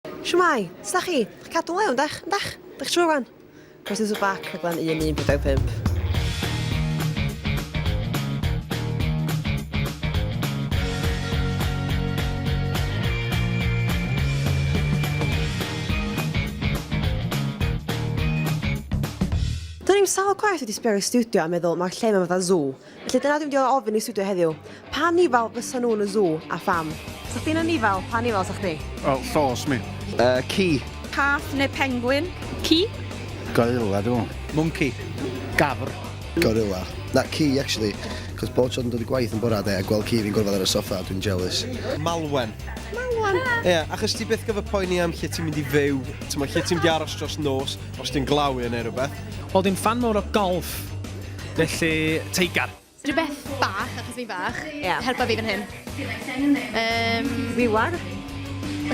Shwmae! Sut dach chi? Chi'n cadw'n lew, yndach? Yndach? Dych chi trwy wan? Croeso to bac, rhaglen 1145. Do'n i'm sawl gwaith wedi sbio ar y stiwdio a meddwl, mae'r lle yma fatha zoo. Felly dyna dwi'n diolch ofyn i studio heddiw. Pa nifal fysa nhw yn y zoo, a pham? Sa chdi'n anifal, pa nifal sa chdi? Wel, llos mi. Yy, ci. Cath neu pengwin? Ci. Gorilla dw. Mwnci. Gafr. Gorilla. Na, ci, actually. Cos bob tro dwi'n dod i gwaith yn bora de a gweld ci fi'n gorfod ar y soffa, dwi'n jealous. Malwen. Malwen? Ie, achos ti byth gyfer poeni am lle ti'n mynd i fyw, ti'n mo, lle ti'n mynd i aros dros nos, os ti'n glaw i yn neu rhywbeth. Wel, dwi'n ffan mawr o golff. Felly, teigar. Rhywbeth bach, achos fi'n fach. Ie. Helpa fi fan hyn. Yym... Wiwar.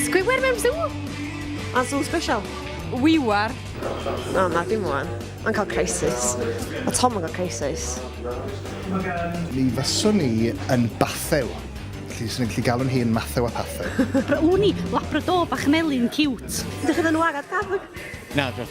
Sgwiwer mewn sŵ? A sŵ special. Wiwar. O, na, dim wan. Mae'n cael crisis. A Tom yn cael crisis. Mi fyswn i yn Bathew. Felly, swn i'n gallu galw'n hun Mathew a Pathew. Wn i, Labrador bach melyn ciwt. Ydych chi'n enwad ar Gafog? Na, dwi.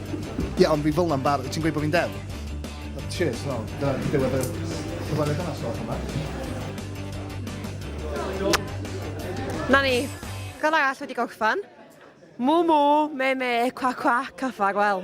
Ie ond fi fel 'na'n bar- ti'n gweud bo fi'n del? Cheers no, dyna ddiwedd y cyfarwydd yna so allan yma. Na ni, gan arall wedi gorffan. Mw mw, me me, cwac cwac, a ffarwel.